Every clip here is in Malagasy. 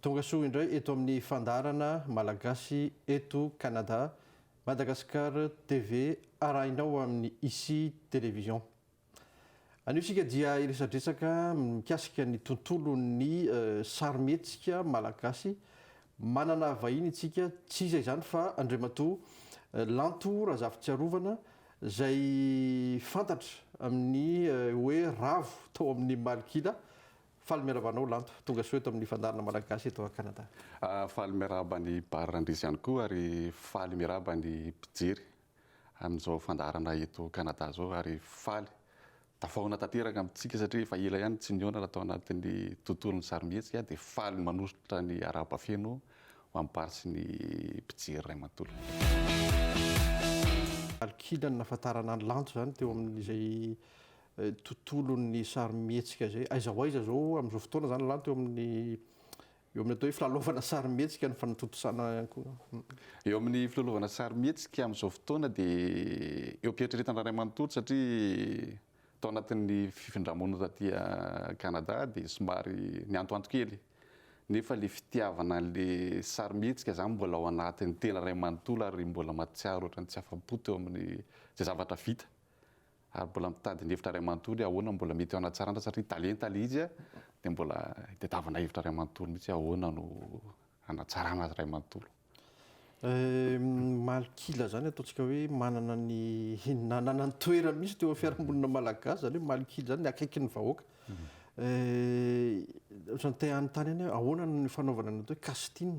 Tonga soa indray eto amin'ny fandaharana Malagasy eto Canada, Madagascar TV arahinao amin'ny Ici Télévision. Anio isika dia hiresadresaka mikasika ny tontolon'ny sarimihetsika malagasy. Manana vahiny isika, tsy iza izany fa Andriamatoa Lanto Razafitsiarovana izay fantatra amin'ny hoe ravo tao amin'ny Malok'ila Faly miarahaba anao Lanto, tonga soa eto amin'ny Fandaharana Malagasy eto à Canada. Faly miarahaba an'i Bar Randrizy ihany koa ary faly miarahaba ny mpijery amin'izao fandaharana eto Canada zao ary faly tafahoana tanteraka amintsika satria efa ela ihany tsy nihaonana tao anatin'ny tontolon'ny sarimihetsika dia faly manosotra ny arahaba feno ho an'i Bar sy ny mpijery iray manontolo. Alok'inona no nahafantarana an'i Lanto izany teo amin'izay tontolon'ny sarimihetsika izay aiza ho aiza izao amin'izao fotoana izany lanto eo amin'ny eo amin'ny atao hoe filalaovana sarimihetsika ny fanatontosana ihany koa. Eo amin'ny filalaovana sarimihetsika amin'izao fotoana dia eo am-pieritreretana iray manontolo satria tao anatin'ny fifindra-monina taty Canada dia somary niantoanto kely nefa ilay fitiavana an'ilay sarimihetsika izany mbola ao anatin'ny tena iray manontolo ary mbola mahatsiaro ohatran'ny tsy afa-po teo amin'izay zavatra vita ary mbola mitady ny hevitra ray manontolo hoe ahoana no mbola mety hanatsarana satria talenta ilay izy dia mbola hitadiavana hevitra ray manontolo mihitsy hoe ahoana no hanatsarana azy ray manontolo. Malkila izany ataontsika hoe manana ny nanana ny toerany mihitsy teo amin'ny fiarahamonina malagasy izany hoe malkila izany, ny akaikin'ny vahoaka. Ohatran'ny te hanontany ihany hoe ahoana no fanaovana ny atao hoe casting.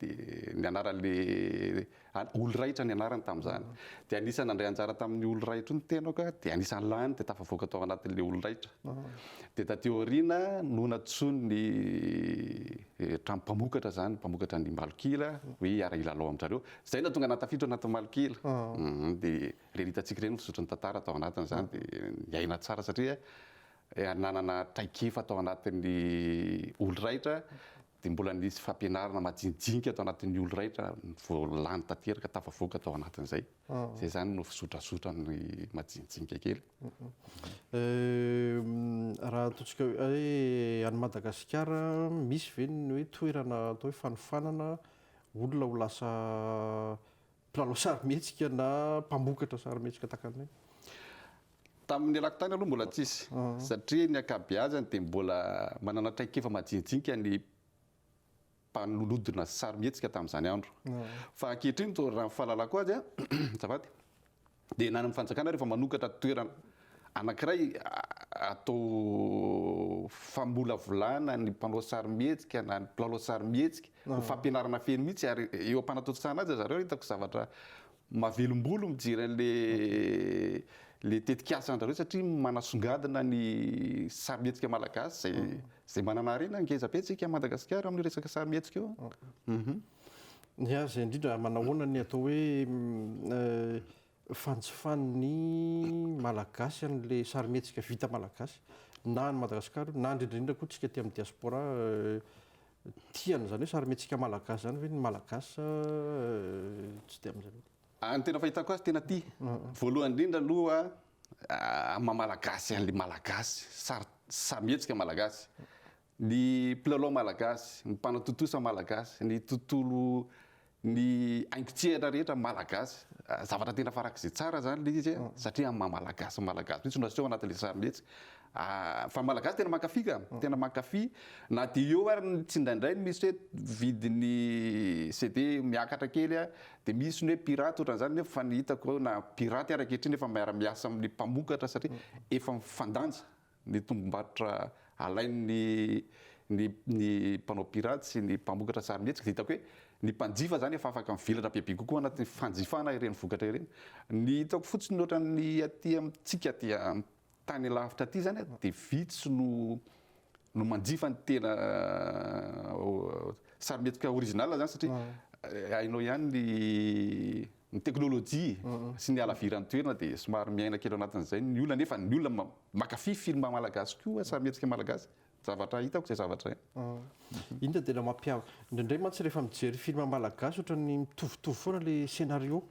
dia ny anaran'ilay olo-rahitra ny anarany tamin'izany. Dia anisan'ny nandray anjara tamin'io olo-rahitra io ny tenako, dia anisan'ny lany dia tafavoaka tao anatin'ilay olo-rahitra. Dia taty aoriana no nantsoin'ny trano mpamokatra izany, mpamokatra ny malok'ila hoe hiara-hilalao amin-dry zareo. Izay no nahatonga ahy nahatafiditra ao anatin'ny malok'ila. Dia ireny hitantsika ireny ny fizotry ny tantara tao anatin'izany, dia niaina tsara satria nanana traikefa tao anatin'ny olo-rahitra dia mbola nisy fampianarana majinijinika tao anatin'ny olo-raitra vao lany tanteraka, tafavoaka tao anatin'izay. Izay izany no fizotrazotra ny majinijinika kely. Raha ataontsika hoe any Madagasikara, misy ve ny hoe toerana atao hoe fanofanana olona ho lasa mpilalao sarimihetsika na mpamokatra sarimihetsika tahaka an'ireny? Tamin'ny ialako tany aloha mbola tsisy satria ny ankabeazany dia mbola manana traikefa majinijinika ny mpanodina sarimihetsika tamin'izany andro. Fa ankehitriny izao raha ny fahalalako azy azafady dia na any amin'ny fanjakana ary efa manokatra toerana anankiray atao famolavolana ny mpanao sarimihetsika na ny mpilalao sarimihetsika ho fampianarana feno mihitsy ary eo am-panatontosana azy zareo hitako zavatra Mahavelombolo mijery an'le le tetikasa andrareo satria manasongadina ny sarimihetsika malagasy izay manana harena ngeza be tsika Madagasikara amin'ny resaka sarimihetsika io an. Ny azy indrindra manahoana ny atao hoe fanjifan'ny malagasy an'le sarimihetsika vita malagasy na any Madagasikara io na indrindra indrindra koa tsika aty amin'ny diaspora Tiana izany hoe sarimihetsika malagasy izany ve ny malagasy sa tsy tia amin'izay loatra? Ny tena fahitako azy tena tia. Voalohany indrindra aloha amin'ny maha malagasy an'ilay malagasy, sary sarimihetsika malagasy, ny mpilalao malagasy, ny mpanatontosa malagasy, ny tontolo ny haingon-tsehatra rehetra malagasy, zavatra tena farak'izay tsara izany ilay izy satria amin'ny maha malagasy ny malagasy mihitsy no aseho anatin'ilay sarimihetsika fa ny malagasy tena mankafy ka, tena mankafy na dia eo ary ny tsindraindray misy hoe vidin'ny CD miakatra kely a, dia misy ny hoe pirate ohatran'izany nefa fa ny hitako na pirate ary ankehitriny efa miara-miasa amin'ny mpamokatra satria efa mifandanja ny tombom-barotra alain'ny ny ny mpanao pirate sy ny mpamokatra sarimihetsika dia hitako hoe ny mpanjifa izany efa afaka mivelatra bebe kokoa anatin'ny fanjifana ireny vokatra ireny. Ny hitako fotsiny ohatran'ny aty amintsika aty amin'ny tany alavitra aty izany dia vitsy no no manjifa ny tena sarimihetsika original izany satria hainao ihany ny ny teknolojia sy ny halaviran'ny toerana dia somary miaina kely ao anatin'izay ny olona nefa ny olona mankafy film malagasy koa samy hetsika malagasy zavatra hitako izay zavatra hainy. Iny dia tena mampiavaka. Indraindray mantsy rehefa mijery film malagasy ohatran'ny mitovitovy foana ilay scenario,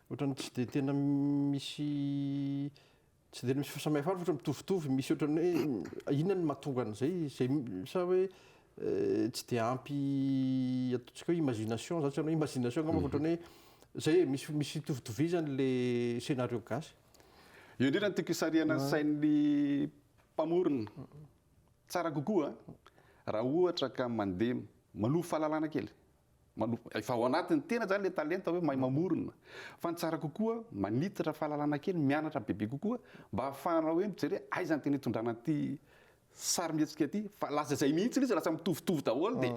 ohatran'ny tsy dia tena misy Tsy dia misy fahasamihafana fa ohatra mitovitovy, misy ohatran'ny hoe inona no mahatonga an'izay, izay sa hoe tsy dia ampy ataontsika hoe imagination zany, tsy hainao imagination angamba fa ohatran'ny hoe izay e, misy misy fitovitovizany le scénario gasy. Eo indrindra no tiako hisarihana ny sain'ny mpamorona. Tsara kokoa raha ohatra ka mandeha manovo fahalalana kely, Manomboka efa ao anatiny tena izany ilay talenta hoe mahay mamorona. Fa ny tsara kokoa, manitatra fahalalana kely, mianatra bebe kokoa mba hahafahana hoe mijere aiza ny tena hitondrana an'ity sarimihetsika ity. Fa lasa izay mihitsy ilay izy, lasa mitovitovy daholo dia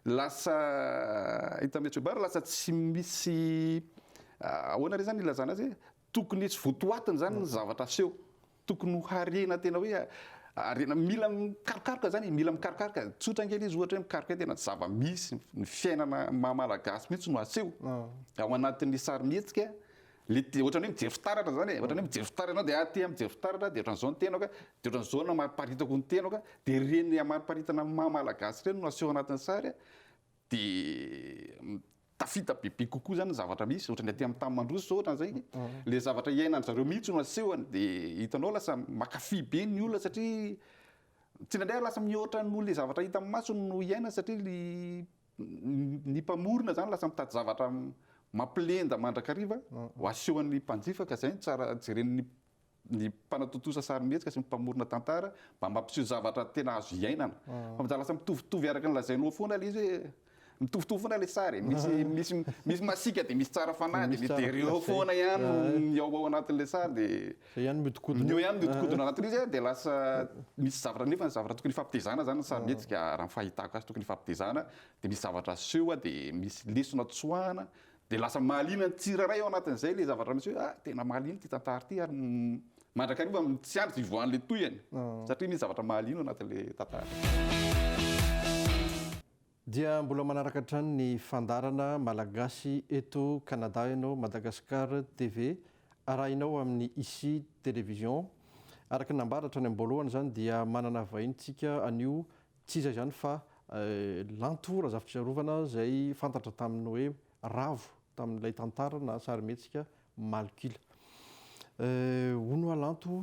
lasa, hitan'i Metsu Baba, lasa tsy misy, ahoana re izany ilazana azy e? Tokony tsy votoatiny izany ny zavatra aseho. Tokony ho harena tena hoe harena mila mikarokaroka zany e, mila mikarokaroka. Tsotra kely izy ohatra hoe mikaroka hoe tena tsy zava-misy, ny fiainana maha malagasy mihitsy no aseho ao anatin'ny sarimihetsika. Le te- ohatran'ny hoe mijery fitaratra zany e, ohatran'ny hoe mijery fitaratra ianao dia aty mijery fitaratra dia ohatran'izao ny tenako, dia ohatran'izao no amariparitako ny tenako, dia ireny amariparitana ny maha malagasy ireny no aseho anatin'ny sary. dia tafita bebe kokoa zany ny zavatra misy ohatra ny aty amin'ny tany mandroso zao ohatra zay le zavatra iainan'ny zareo mihitsy no asehony dia hitanao lasa makafy be ny olona satria tsindraindray ary lasa mihoatra noho le zavatra hita amin'ny masony no iainany satria ny ny mpamorona zany lasa mitady zavatra mampilenda mandrakariva ho asehon'ny mpanjifa ka zay no tsara jeren'ny ny mpanatontosa sarimihetsika sy ny mpamorona tantara mba mampiseho zavatra tena azo iainana fa mizaha lasa mitovitovy araka ny lazainao foana ilay izy hoe mitovitovy foana ilay sary misy misy misy masika dia misy tsara fanahy dia misy eo foana ihany ny ao ao anatin'ilay sary dia ihany miodikodina eo ihany miodikodina anatin'io izy dia lasa misy zavatra nefa zavatra tokony fampitezana zany ny sarimihetsika raha ny fahitako azy tokony fampitezana dia misy zavatra aseho dia misy lesona tsoahana Dia lasa mahaliana ny tsirairay ao anatin'izay ilay zavatra misy hoe ah, tena mahaliana ity tantara ity ary mandrakariva tsy andry tsy hivoahan'ilay tohiny satria misy zavatra mahaliana ao anatin'ilay tantara. Dia mbola manaraka hatrany ny fandaharana Malagasy eto Canada ianao, Madagascar TV arahinao amin'ny Ici Télévision. Araka ny nambara hatrany am-boalohany izany dia manana vahiny tsika anio Tsy izay izany fa lanto Razafitsiarovana izay fantatra tamin'ny hoe Ravo tamin'ilay tantara na sarimihetsika Malok'ila. Hono hoa lanto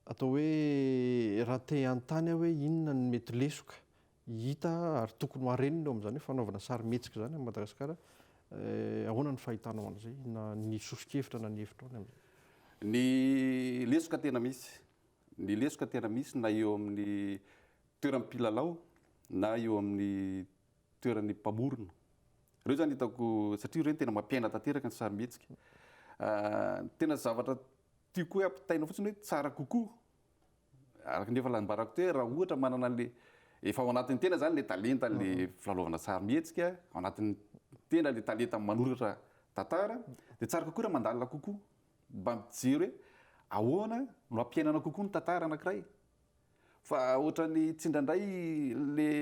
atao hoe raha te hanontany aho hoe inona no mety lesoka hita ary tokony ho harenina eo amin'izany hoe fanaovana sarimihetsika izany amin'i Madagasikara, ahoana ny fahitanao an'izay na ny soso-kevitra na ny hevitrao ny amin'izay? Ny lesoka tena misy Ny lesoka tena misy na eo amin'ny toeran'ny mpilalao na eo amin'ny toeran'ny mpamorona. Ireo zany hitako satria ireny tena mampiaina tanteraka ny sarimihetsika. Ny tena zavatra tiako hoe ampitaina fotsiny hoe tsara kokoa, araka ny efa nambarako teo hoe raha ohatra manana an'le efa ao anatin'ny tena zany le talenta le filalaovana sarimihetsika, ao anatin'ny tena le talenta manoratra tantara dia tsara kokoa raha mandalina kokoa. Mba mijero hoe ahoana no hampiainana kokoa ny tantara anankiray. Fa ohatran'ny tsindrandray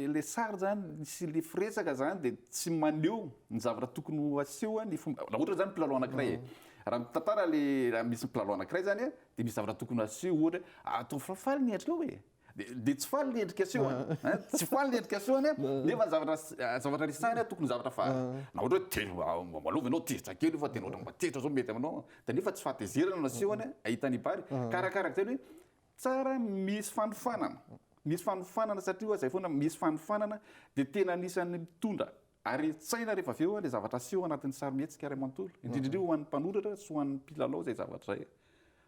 ilay sary izany sy ilay firesaka izany dia tsy maneho ny zavatra tokony ho aseho ny fomba, raha ohatra izany mpilalao anankiray e. Raha ny tantara ilay, raha misy mpilalao anankiray izany dia misy zavatra tokony ho aseho ohatra hoe ataovy faly ny endrikao e. Dia tsy faly ny endrika asehony, tsy faly ny endrika asehony nefa ny zavatra zavatra resahiny tokony zavatra faly. Na ohatra hoe telo malovo ianao tezitra kely io fa tena ohatra mba tezitra izao mety aminao dia nefa tsy fahatezerana no asehony ahita ny bary ka arakaraka izay hoe tsara misy fanofanana, misy fanofanana satria oa izay foana misy fanofanana dia tena anisan'ny mitondra Ary tsaina rehefa avy eo ilay zavatra aseho anatin'ny sarimihetsika iray manontolo, indrindra indrindra ho an'ny mpanoratra sy ho an'ny mpilalao izay zavatra izay.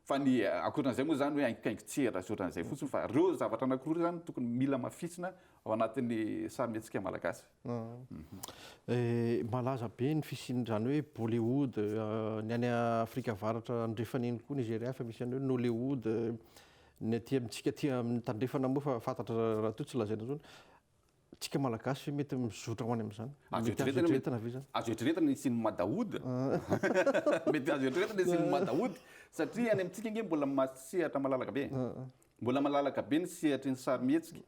Fa ny ankoatran'izay moa izany hoe haingokaingon-tsehatra sy ohatran'izay fotsiny fa ireo zavatra anankiroa ireo izany no tokony mila mafisina ao anatin'ny sarimihetsika malagasy. Malaza be ny fisian'izany hoe Bollywood, ny any Afrika Avaratra Andrefana iny koa Nigeria efa misy an'io, Nollywood, ny aty amintsika aty amin'ny Tandrefana moa efa fantatra raha toa tsy lazaina intsony. Tsika malagasy mety mizotra ho any amin'izany. Azo eritreretina ve izany? Azo eritreretina ny hisian'ny madahoud. Mety azo eritreretina ny hisian'ny madahoud satria any amintsika ange mbola sehatra malalaka be. Mbola malalaka be ny sehatry ny sarimihetsika.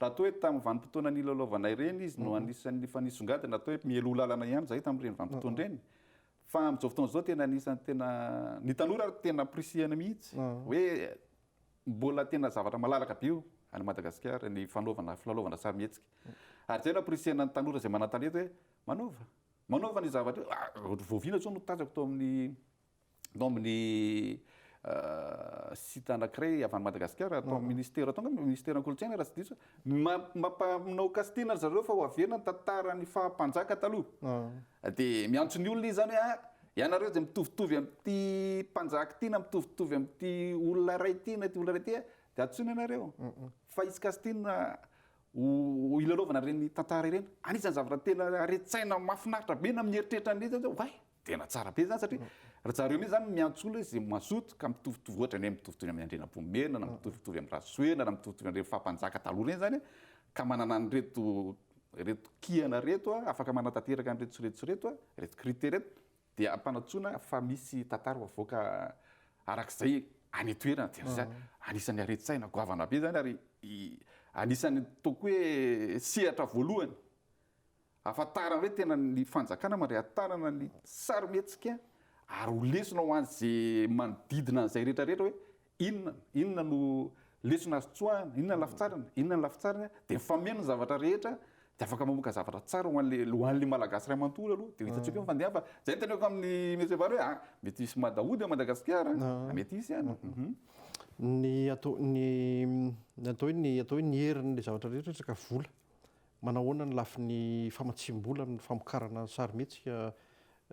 Raha toa hoe tamin'ny vanim-potoana nilalaovana ireny izy no anisan'ny efa nisongadina atao hoe mialoha lalana ihany izahay tamin'ireny vanim-potoana ireny. Fa amin'izao fotoana izao tena anisan'ny tena, ny tanora ary tena ampirisihana mihitsy hoe Mbola tena zavatra malalaka be io any Madagasikara ny fanaovana filalaovana sarimihetsika. Ary izay no ampirisihana ny tanora izay manan-talenta hoe manaova, manaova ny zavatra io. Ohatry voaviana izao no tazako tao amin'ny tao amin'ny site anankiray avy any Madagasikara, tao amin'ny Ministera tao angamba, Ministeran'ny Kolontsaina raha tsy diso. Mampanao casting ry zareo fa ho averina ny tantaran'ny faha mpanjaka taloha. Dia miantso ny olona izy izany hoe ah, ianareo izay mitovitovy amin'ity mpanjaka ity na mitovitovy amin'ity olona iray ity na ity olona iray ity ah, dia antsoina ianareo fa hisy casting ho hilalaovana ireny tantara ireny. Anisan'ny zavatra tena haren-tsaina mahafinaritra be na mieritreritra an'ilay izy aza hoe oay! Tena tsara be zany satria ry zareo mihitsy zany miantso olona hoe ze mazoto ka mitovitovy ohatra ny hoe mitovitovy amin'ny Andrianampoinimerina na mitovitovy amin'ny Rasoena na mitovitovy an'ireny faha mpanjaka taloha ireny zany ka manana an'ireto ireto kihana ireto afaka manatanteraka an'ireto sy ireto sy ireto ireto critère ireto dia ampanantsoina fa misy tantara ho avoaka arak'izay any an-toerana dia zay anisan'ny haren-tsaina goavana be zany ary anisan'ny ataoko hoe sehatra voalohany Ahafantarany hoe tena ny fanjakana mandray an-tanana ny sarimihetsika ary ho lesona ho an'izay manodidina an'izay rehetra rehetra hoe inona inona no lesona azo tsoahina, inona ny lafitsariny, inona ny lafitsariny an, dia mifameno ny zavatra rehetra dia afaka mamoaka zavatra tsara ho an'ilay ho an'ilay Malagasy iray manontolo aloha dia ho hitantsika eo ny fandehany fa izay no teneniko amin'i Monsieur Vary hoe a! mety hisy mada hody ao Madagasikara an, mety hisy an, ny atao ny atao hoe ny atao hoe ny herin'ilay zavatra rehetra rehetra ka vola Manao ahoana ny lafiny famatsiam-bola amin'ny famokarana ny sarimihetsika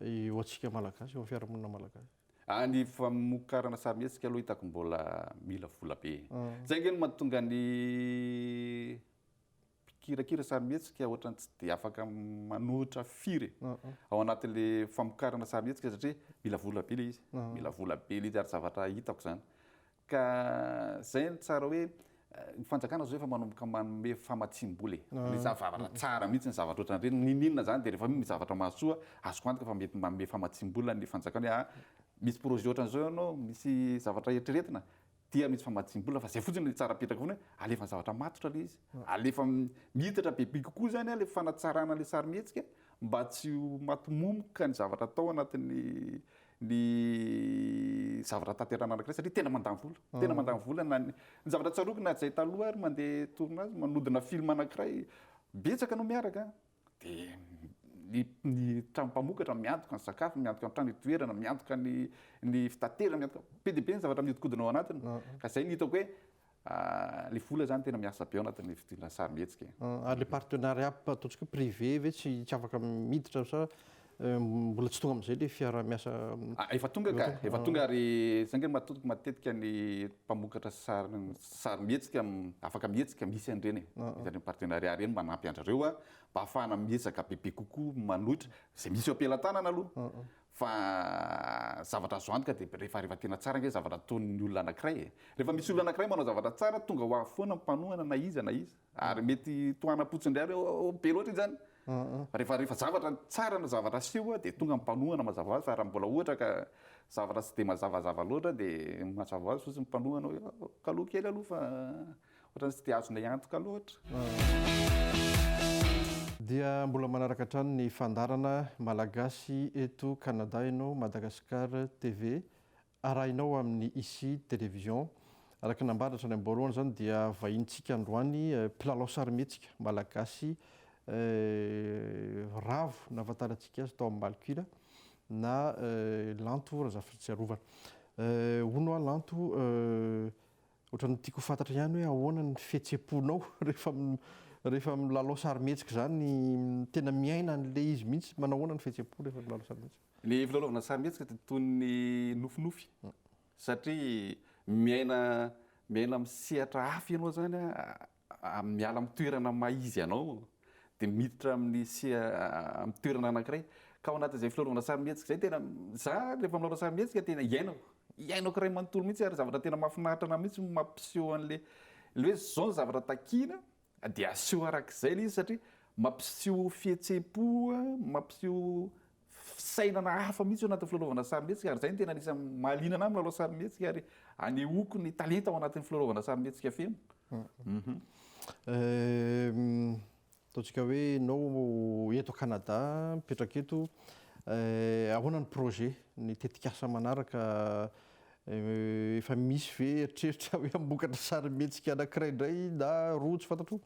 eo antsika Malagasy, eo amin'ny fiarahamonina Malagasy? Ah, ny famokarana sarimihetsika aloha hitako mbola mila vola be. Zay ange no mahatonga ny mpikirakira sarimihetsika ohatran'ny tsy dia afaka manohitra firy e, ao anatin'le famokarana sarimihetsika satria mila vola be le izy, mila vola be le izy ary zavatra hitako zany Ka zay ny tsara hoe ny fanjakana zao efa manomboka manome famatsiam-bola e. Ny zavatra tsara mihitsy ny zavatra ohatran'ireny, n'inon'inona izany dia rehefa misy zavatra mahasoa, azoko antoka fa mety manome famatsiam-bola ny fanjakana hoe ah, misy projet ohatran'izao ianao, misy zavatra eritreretina dia misy famatsiam-bola fa zay fotsiny no tsara apetraka foana hoe alefa ny zavatra matotra ilay izy, alefa miditra bebe kokoa izany ilay fanatsarana ilay sarimihetsika mba tsy ho maty momoka ny zavatra atao anatin'ny ny zavatra tanterahina anankiray satria tena mandany vola, tena mandany vola na ny ny zavatra tsaroako na izay taloha ary mandeha tournage manodina film anankiray betsaka no miaraka dia ny ny trano mpamokatra miantoka ny sakafo, miantoka ny trano itoerana, miantoka ny ny fitaterana, miantoka be dia be ny zavatra mihodinkodina ao anatiny ka izay no hitako hoe Le vola zany tena miasa be ao anatin'ny fidirana sarimihetsika e. Ary le partenariat ataontsika hoe privé ve tsy afaka miditra sa mbola tsy tonga amizay le fiarahamiasa? Efa tonga ka, efa tonga ary zay nga matontok matetika ny mpamokatra sarimihetsika afaka mihetsika misy an'ireny e, misy an'ireny partenariat ireny manampy andrareo mba afahana miezaka bebe kokoa manohitra ze misy eo am-pelatanana aloha Fa zavatra azo antoka dia rehefa rehefa tena tsara ange zavatra ataon'ny olona anankiray e! Rehefa misy olona anankiray manao zavatra tsara tonga ho avy foana ny mpanohana na iza na iza. Ary mety tohanam-potsiny indray hoe oh oh be loatra iny zany. Rehefa rehefa zavatra tsara na zavatra aseho dia tonga ny mpanohana mazava hoazy fa raha mbola ohatra ka zavatra tsy dia mazavazava loatra dia mazava hoazy fotsiny ny mpanohana hoe oh kaloha kely aloha fa Ohatran'ny tsy dia azonay antoka loatra. Dia mbola manaraka hatrany ny fandaharana Malagasy eto Canada ianao Madagascar TV arahinao amin'ny Ici Télévision. Araka ny nambara hatrany am-boalohany izany dia vahinintsika androany mpilalao sarimihetsika Malagasy Ravo nahafantarantsika azy tao amin'ny Malcuila na Lanto Razafitsiarovana. Hono hoa Lanto Ohatran'ny tiako ho fantatra ihany hoe ahoana ny fihetsem-ponao rehefa rehefa milalao sarimihetsika izany, tena miaina an'ilay izy mihitsy, manao ahoana ny fihetsem-po rehefa milalao sarimihetsika? Ny filalaovana sarimihetsika dia toy ny nofinofy satria miaina miaina amin'ny sehatra hafa ianao izany miala amin'ny toerana maha izy anao dia miditra amin'ny amin'ny toerana anankiray ka ao anatin'izay filaorana sarimihetsika izay tena za rehefa milaorana sarimihetsika tena iainako iainako iray manontolo mihitsy ary zavatra tena mahafinaritra anah mihitsy mampiseho an'le le hoe zao ny zavatra takiana dia aseho arak'izay le izy satria mampiseho fihetseham-po mampiseho fisainana hafa mihitsy ao anatin'ny filalaovana sarimihetsika ary izay no tena anisan'ny mahaliana anahy milalao sarimihetsika ary anehoako ny talenta ao anatin'ny filalaovana sarimihetsika feno. Ataontsika hoe ianao eto Canada, mipetraka eto, ahoana ny projet, ny tetikasa manaraka Efa misy ve eritreritra hoe hamokatra sarimihetsika anankiray indray na roa tsy fantatro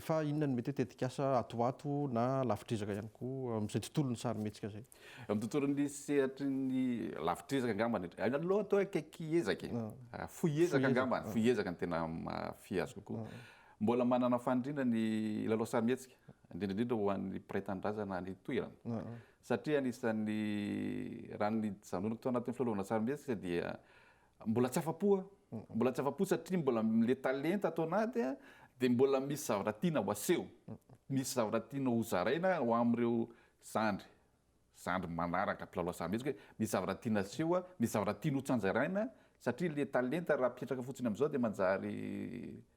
fa inona no mety hoe tetikasa ato ato na lavitr'ezaka ihany koa amin'izay tontolon'ny sarimihetsika izay? Amin'ny tontolon'ny sehatry ny lavitr'ezaka angambany hatr, aina aloha atao hoe akaiky ezaka e! fohy ezaka angambany, fohy ezaka no tena mahafehy azy kokoa. Mbola manana faniriana ny hilalao sarimihetsika, indrindra indrindra ho an'ny mpiray tanindrazana any toerana. satria anisan'ny raha nijanonako tao anatin'ny filalaovan-tsarimihetsika dia mbola tsy afa-po aho, mbola tsy afa-po satria mbola le talenta ato anaty a, dia mbola misy zavatra tiana ho aseho, misy zavatra tiana ho zaraina ho amin'ireo zandry, zandry manaraka mpilalao sarimihetsika hoe misy zavatra tiana aseho a, misy zavatra tiana ho tsanjaraina satria le talenta raha apetraka fotsiny amin'izao dia manjary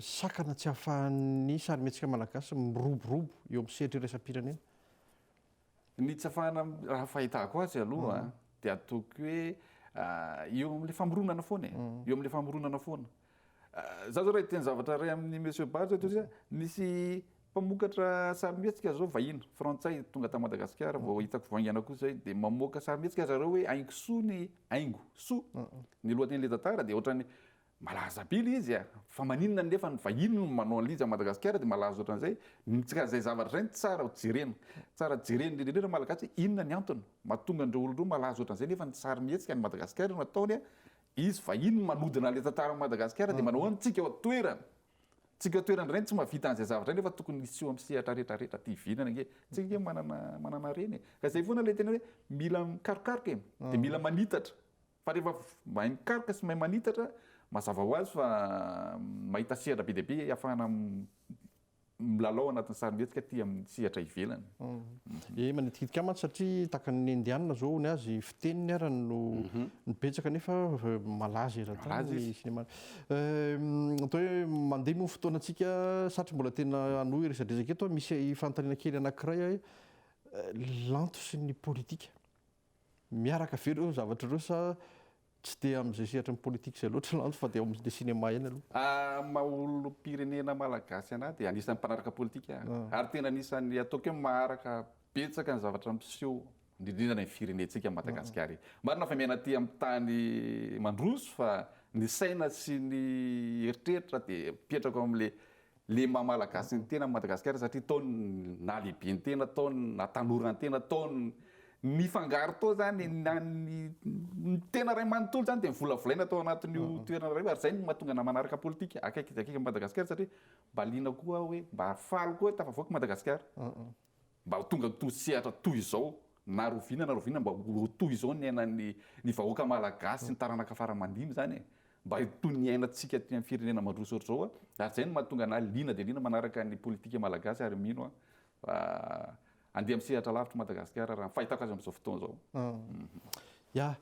Sakana tsy ahafahan'ny sarimihetsika malagasy miroborobo eo amin'ny sehatra iraisam-pirenena. Ny tsy ahafahana, raha ny fahitako azy aloha dia ataoko hoe eo amin'ilay famoronana foana e, eo amin'ilay famoronana foana. Izaho izao raha hiteny zavatra iray amin'i Monsieur Bary izao dia nisy mpamokatra sarimihetsika izao vahiny, frantsay, tonga tany Madagasikara, vao hitako vaingana koa izay, dia mamoaka sarimihetsika ry zareo hoe Haingo soa ny, Haingo soa ny lohatenin'ilay tantara dia ohatran'ny, Malaza be le izy a! Fa maninona nefa ny vahiny no manao anlija am Madagasikara de malaza otran'izay? Tsy ka zay zavatra zay no tsara ho jerena. Tsara jerena indrindra indrindra Malagasy hoe inona ny antony mahatonga an'ireo olon-droa malaza otran'izay nefa ny sarimihetsika any Madagasikara no ataony a! Izy vahiny manodina le tantara am Madagasikara de manao an tsika ao an-toerana. Tsika ao an-toerana indray no tsy mahavita an'izay zavatra zay nefa tokony hiseho am sehatra rehetra rehetra aty ivelany ange. Tsika ange manana manana harena e! Ka zay foana le tena hoe mila mikarokaroka e! De mila manitatra. Fa rehefa mahay mikaroka sy mahay manitatra, mazava ho azy fa mahita sehatra be dia be ahafahana milalao anatin'ny sarimihetsika aty amin'ny sehatra ivelany. Eny, manitikitika mantsy satria tahaka ny Indiana izao hono azy, fiteniny ara no no betsaka nefa malaza eran-tany Malaza ny izy. sinema. Eh, Atao hoe mandeha moa ny fotoanantsika, satry mbola tena hanohy ny resadresaka eto. Misy fanontaniana kely anankiray ahy, eh, lanto sy ny politika. Miaraka ve ireo zavatra ireo sa tsy dia amin'izay sehatry ny politique izay loatra lanto fa dia ao amin'ilay cinéma ihany aloha? Ahy maha olom-pirenena malagasy an'ahy dia anisan'ny mpanaraka politika aho ary tena anisan'ny ataoko hoe maharaka betsaka ny zavatra miseho indrindra ny firenentsika Madagasikara. Marina fa miaina aty amin'ny tany mandroso fa ny saina sy ny eritreritra dia mipetraka ao amin'ilay le maha malagasy ny tena an'i Madagasikara satria tao ny nahalehibe ny tena, tao ny nahatanora ny tena, tao ny nifangaro tao zany na ny ny tena ray manontolo zany dia nivolavolaina tao anatin'io toerana iray io ary zay no mahatonga namana araka politika akaiky dia akaiky an'i Madagasikara satria mba liana koa hoe mba faly koa hoe tafavoaka i Madagasikara. mba ho tonga tosehatra toy izao na roviana na roviana mba ho toy izao ny ainan'ny ny vahoaka malagasy ny taranaka fara mandimby zany e! mba toy ny ainantsika aty amin'ny firenena mandroso ohatr'izao a! ary zay no mahatonga anah liana dia liana manaraka ny politika malagasy ary mino aho fa andeha amin'ny sehatra lavitra i Madagasikara raha ny fahitako azy amin'izao fotoana izao. Ya!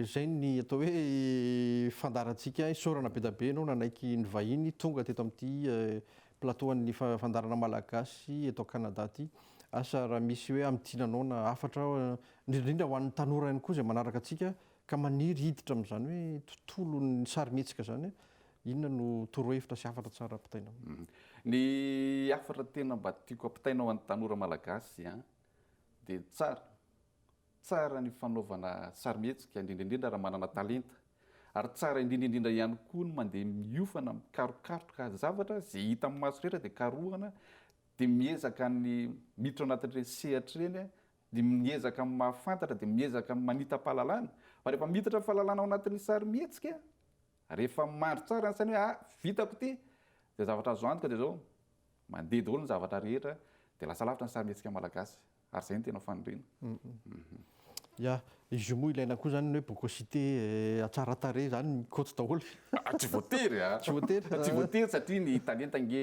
izay ny atao hoe fandaharantsika isaorana be dia be ianao nanaiky nivahiny tonga teto amin'ity plateau an'ny fandaharana malagasy eto Canada aty. Asa raha misy hoe amin'ny tiana anao na hafatra indrindra ho an'ny tanora ihany koa izay manaraka antsika ka maniry hiditra amin'izany hoe tontolon'ny sarimihetsika izany, inona no torohevitra sy hafatra tsara ampitaina aminy? Ny hafatra tena mba tiako ampitaina ho an'ny tanora malagasy dia tsara Tsara ny fanaovana sarimihetsika, indrindra indrindra raha manana talenta. Ary tsara indrindra indrindra ihany koa ny mandeha miofana, mikarokaroka zavatra, izay hita amin'ny maso rehetra dia karohina, dia miezaka ny miditra ao anatin'ireny sehatra ireny, dia miezaka ny mahafantatra, dia miezaka ny manita-pahalalana. Fa rehefa miditra ny fahalalana ao anatin'ny sarimihetsika, rehefa mandry tsara ny saina hoe ah, vitako ity, izay zavatra azo antoka dia izao, mandeha daholo ny zavatra rehetra, dia lasa lavitra ny sarimihetsika malagasy. Ary izay no tena faniriana. Ya, izy io moa ilaina koa izany ny hoe bocosité tsara tarehy izany mikoty daholo. Ah, tsy voatery a! Tsy voatery? Tsy voatery satria ny talenta ange,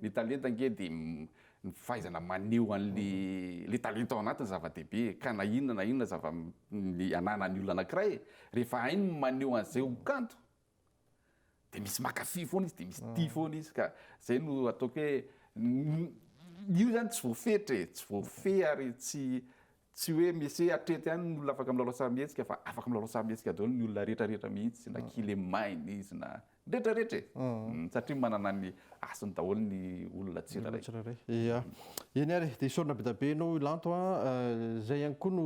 ny talenta ange dia ny fahaizana maneho an'le le talenta ao anatiny zava-dehibe e, ka na inona na inona zava, ny ananan'ny olona anankiray e, rehefa hainy ny maneho an'izay ho kanto dia misy mankafy foana izy dia misy tia mm. foana izy ka zay no ataoko hoe io zany tsy voafetra e tsy voafehy ary tsy tsy hoe misy hoe atreto ihany ny olona afaka milalao sarimihetsika fa afaka milalao sarimihetsika daholo ny olona rehetrarehetra mihitsy na mm. kile maina izy na rehetrarehetra e mm. satria manana ny asiny daholo ny olona tsirairay ia eny ary dia isaorina be da be ianao ilanto a eh, zay ihany koa no